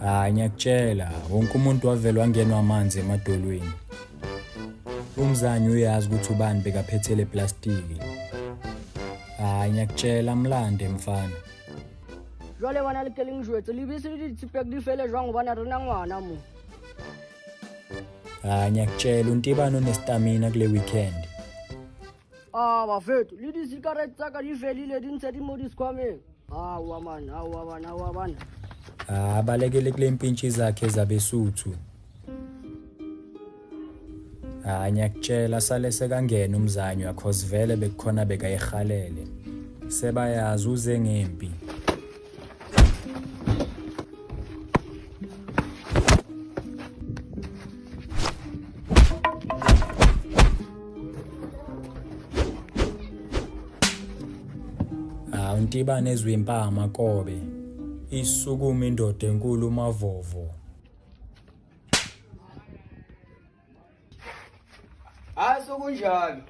hayi ngiyakutshela wonke umuntu wavele wangenwa amanzi emadolweni umzanyi uyazi ukuthi ubani bekaphethele plastiki hayi ngiyakutshela mlande mfana jwale bona le keleng jwetse lebese le ditshipek di fele jwang gobane re na ngwana mo hayi ngiyakutshela untibane onestamina kule weekend Ah, bafethu, lidi sigaret tsaka di felile di ntse di mo di sikhwameng. Hawa man, hawa man, hawa man. Ah, balekele kule mpintshi zakhe zabesuthu. Ah, ngiyakutshela sale sekangena umzanywa cause vele bekukhona bekayihalele. Sebayazi uze ngempi. awuntibane ezwe impama kobe isukuma indoda enkulu umavovo hayi sokunjalo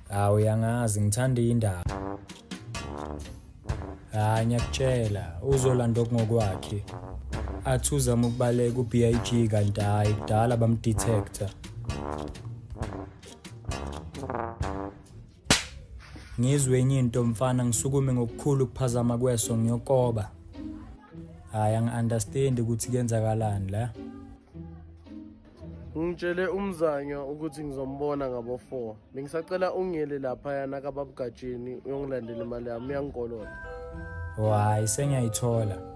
hawu uyangazi ngithanda indaba hayi ngiyakutshela uzolanda okungokwakhe athi uzama ukubaleka u-b i g kanti hhayi kudala bamdetector ngizwe enye into mfana ngisukume ngokukhulu ukuphazama kweso ngiyokoba hayi angi-understandi ukuthi kuyenzakalani la ngitshele umzanywa ukuthi ngizombona ngabo-four bengisacela ungiyele laphayana kababugajeni uyongilandela imali yami uyangikolola o hhayi sengiyayithola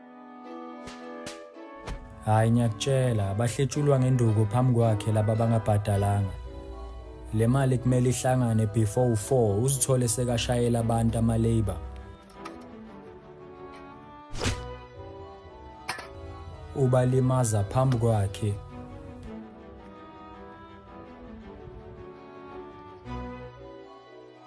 Hayi ngiyakutshela bahletshulwa ngenduku phambi kwakhe laba bangabhadalanga. Le mali kumele ihlangane before u4 uzithole sekashayela abantu ama labor. Ubalimaza phambi kwakhe.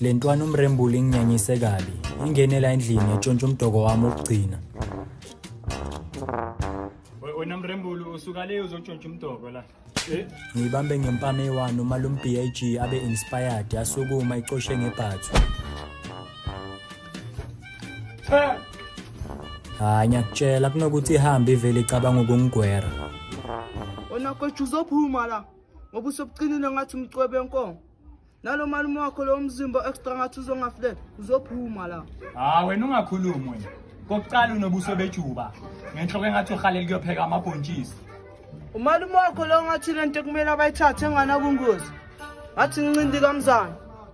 le ntwana umrembula inginyanyise kabi ingenela endlini yatshontsha umdoko wami wokugcina wena mrembulu usuka le uzotshontsha umdoko la eh? ngiyibambe ngempama eyi-one uma lo mbhig abe-inspired yasukuma icoshe ngebhathu Turn. Hayi ngiyakutshela kunokuthi ihambe ivele icabanga ukungigwera. Wena kothi uzophuma la ngoba usobuqinile ngathi umcwebe enkomo. Nalo malume wakho lo mzimba extra ngathi uzongafulela uzophuma la. Hayi wena ungakhulumi wena. Kokuqala unobuso bejuba. Ngenhloko engathi uhalela kuyopheka amabhontshisi. Umalume wakho lo ngathi lento kumele abayithathe engana kungozi. Ngathi ngincindi kamzana.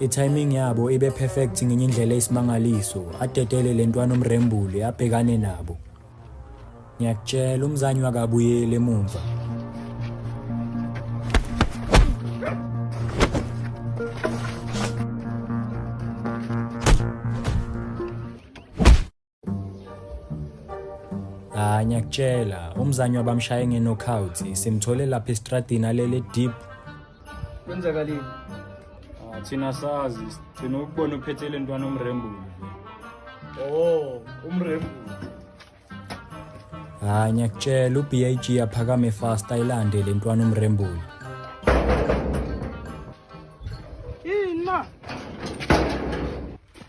I-timing yabo ibe perfect ngenye indlela eyisimangaliso, adedele le ntwana umrembuli abhekane nabo. Ngiyakutshela umzanyi wakabuyeli emumva. hayi ngiyakutshela umzanyi wabamshaye nge-knockout simthole lapha estradini alele deep kwenzakalini ah, thina sazi sigcina ukubona uphethe le ntwana umrembulu o oh, umrembulu hayi ah, ngiyakutshela u-b i g aphakame fast ayilande le ntwana umrembulu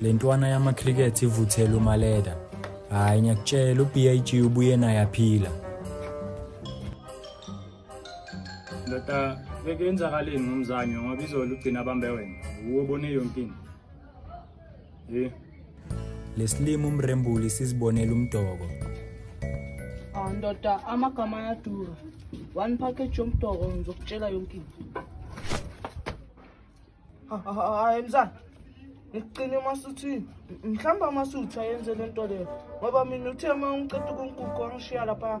le ntwana yamakhrikethi ivuthela umaleda hhayi ngiyakutshela u-b i g ubuye naye aphila ndoda bekenzakaleni ngomzanyo ngoba izolo ugcina abambe wena wuwo bone yonke into Hey. Lesilimo umrembuli sizibonela umdoko. Ah ndoda amagama ayadura. One package yomdoko ngizokutshela yonke into. Hayi mzana. Ngiqine masuthi mhlamba masuthi ayenze lento leyo. Ngoba mina uthe uma ngiqeda ukunkuku angishiya lapha.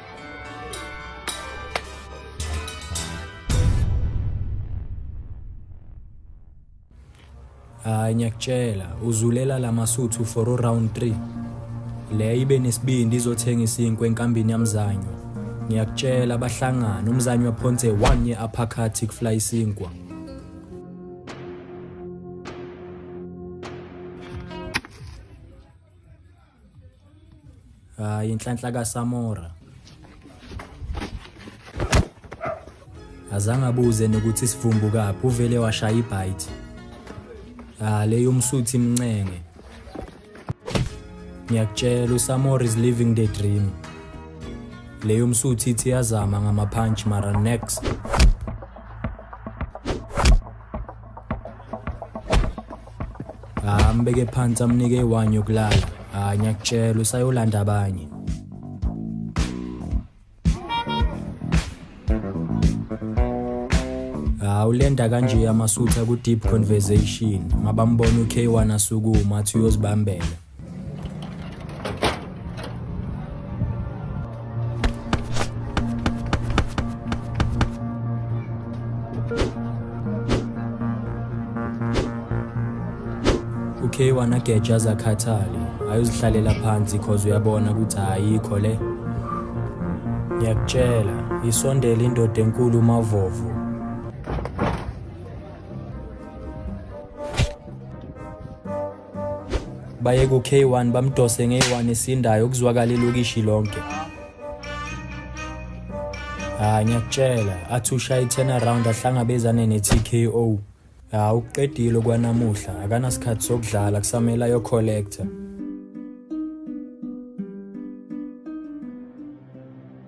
hayi ngiyakutshela uzulela la masuthu for uround 3 le ibe nesibindi izothenga isinkwe enkambini yamzanyo ngiyakutshela abahlangana umzanyo waphonse one ye uppercut kufly isinkwa hayi inhlanhla kasamora azange abuze nokuthi sivumbu kaphi uvele washaya ibhayithi ah le yomsuthi imncenge ngiyakutshela usamora is living the dream le yomsuthi ithi yazama ngamaphantshi mara next ambeke phansi amnike iwine yokulala hayi ngiyakutshela usayolanda abanye hawu lenda kanje amasutha ku-deep conversation mabambona u-k1 asukuma athi uyozibambela okay wanageja zakhathale hhayi uzihlalela phansi cause uyabona ukuthi ayikho le ngiyakutshela isondele indoda enkulu umavovo baye ku-k1 bamdose nge-1 esindayo kuzwakala ilokishi lonke ha ngiyakutshela athi ushaya i-turnaround ahlangabezane ne-tko ha ukuqedile kwanamuhla akanasikhathi sokudlala kusamele ayocollector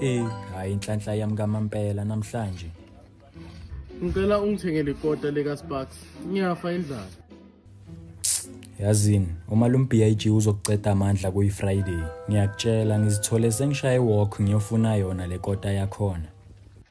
Ey, hayi inhlanhla yami kamampela namhlanje. Ngicela ungithengele ikota leka Sparks. Ngiyafa indlala. Yazini, uma lo BIG uzokuceda amandla kuyi Friday. Ngiyakutshela ngizithole sengishaye walk ngiyofuna yona le kota yakhona.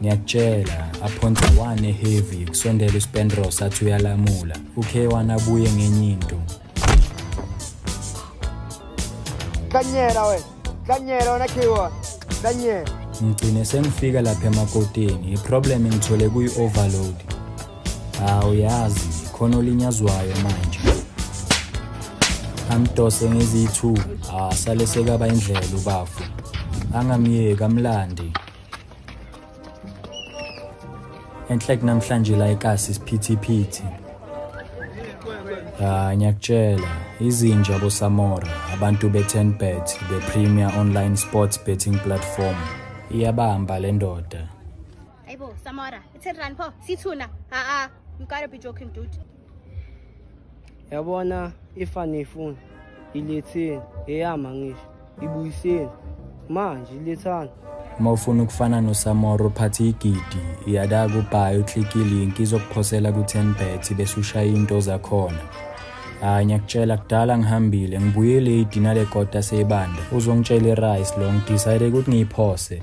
ngiyakutshela aphonsa one heavy kusondela uspendros athi uyalamula ukhe wanabuye ngenye into kanyela wena kanyela wena khiwa kanyela ngigcine sengifika lapha emakoteni iproblem ngithole kuyi-overload hawu yazi khona olinyazwayo manje amdose ngeziyi-two asale sekaba indlela ubafu angamyeki amlande enhle kunamhlanje la ekasi isiphithiphithi ha ngiyakutshela izinja bosamora abantu be-10bet the premier online sports betting platform iyabamba le ndoda ayibo samora i-ten rand pho sithuna ha-a you gotta be joking dude yabona ifa niyifuna iletheni eyama ngisho ibuyiseni manje ilethani uma ufuna ukufana nosamora uphathe igidi iyada kubhayi uklike ilinki izokuphosela ku-10 bet bese ushaya into zakhona hhayi ngiyakutshela kudala ngihambile ngibuyile idina lekota seyibanda uzongitshela irice lo ngidicide ukuthi ngiyiphose